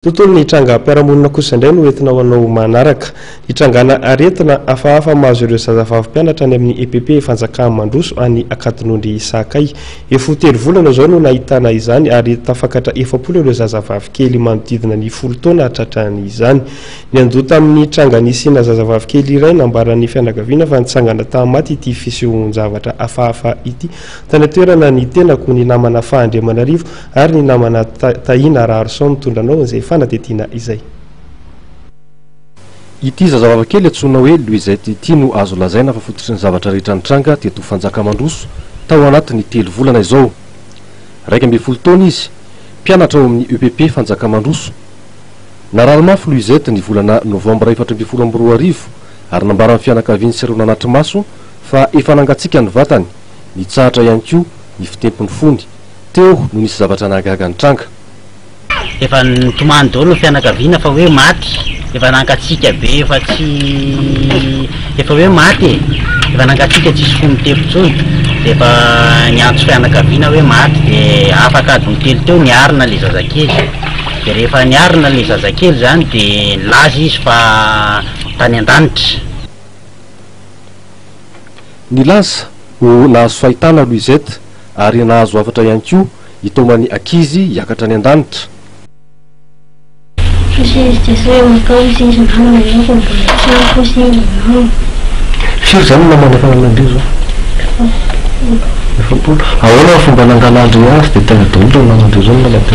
Tontolon'ny trangam-piarahamonina kosa indray no entina ho anao manaraka. Hitrangana aretina hafahafa mahazo ireo zazavavy mpianatra any amin'ny EPP Fanjakà Mandroso any Ankadinondry Isahakay. Efa ho telo volana izao no nahitana izany ary tafakatra efapolo ireo zazavavy kely manodidina ny folo taona tratran'izany. Niandoha tamin'ny tranga nisiana zazavavy kely iray nambaran'ny fianakaviana fa nitsangana tamaty ity fisehoan-javatra hafahafa ity. Tany an-toerana ny tenako, ny namana Fahandriamanarivo, Ary ny namana Tahiana Raharison mitondra anao izay fanadihadiana izay. Ity zazavavy kely antsoina hoe Louisette ity no azo lazaina fa fototry ny zavatra rehetra nitranga teto Fanjakamandroso tao anatin'ny telo volana izao. Iraika ambin'ny folo taona izy, mpianatra ao amin'ny EPP Fanjakamandroso. Narary mafy Louisette ny volana novambra efatra ambin'ny folo amby roa arivo ary nambaran'ny fianakaviany sy ireo nanatri-maso fa efa nangatsiaka ny vatany, nitsahatra ihany koa ny fitempon'ny fony. Teo no nisy zavatra nahagaga nitranga. Efa nitomany daholo ny fianakaviana fa hoe maty, efa nankatsiaka be efa tsy efa hoe maty e, efa nankatsiaka tsisy fo mitepo intsony, dia efa niantso fianakaviana hoe maty dia afaka adiny telo teo niarina ilay zazakely, dia rehefa niarina ilay zazakely izany dia nilaza izy fa tany an-danitra. Nilaza ho nahazo fahitana Louisette. ary nahazo hafatra ihany koa i Taomany ankizy hiakatra any an-danitra. Firy izany no namana fananam-be izao? Efapolo. Ahoana ny fomba nangalan-dry azy dia tena daholo ireo namany-dry ireo no nalabe?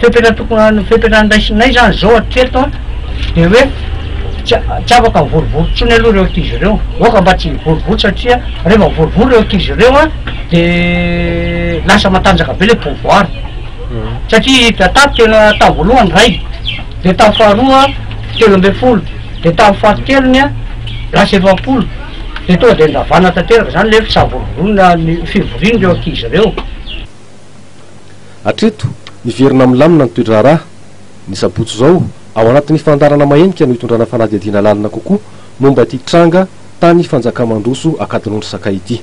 Fepetra tokony fepetra andraisinay izany izao hatreto an, dia hoe tsy afaka mivorivory intsony aloha ireo ankizy ireo, aoka mba tsy hivorivory satria rehefa mivorivory ireo ankizy ireo an, dia lasa matanjaka be ilay pouvoir, satria i Dadaab tena tamin'ny voalohany iray, dia tamin'ny faharoa telo ambin'ny folo, dia tamin'ny fahatelony an, lasa efapolo, dia tonga dia nandavana tanteraka izany ilay hoe tsy sahavorovoriana ny fivorian'ireo ankizy ireo. Hatreto, miverina milamina ny toe-draharaha. Ny sabotsy izao, ao anatin'ny fandaharana mahenika no hitondrana fanadihadiana lalina kokoa momba ity tranga tany Fanjakàmandroso Ankadinondry Sakay ity.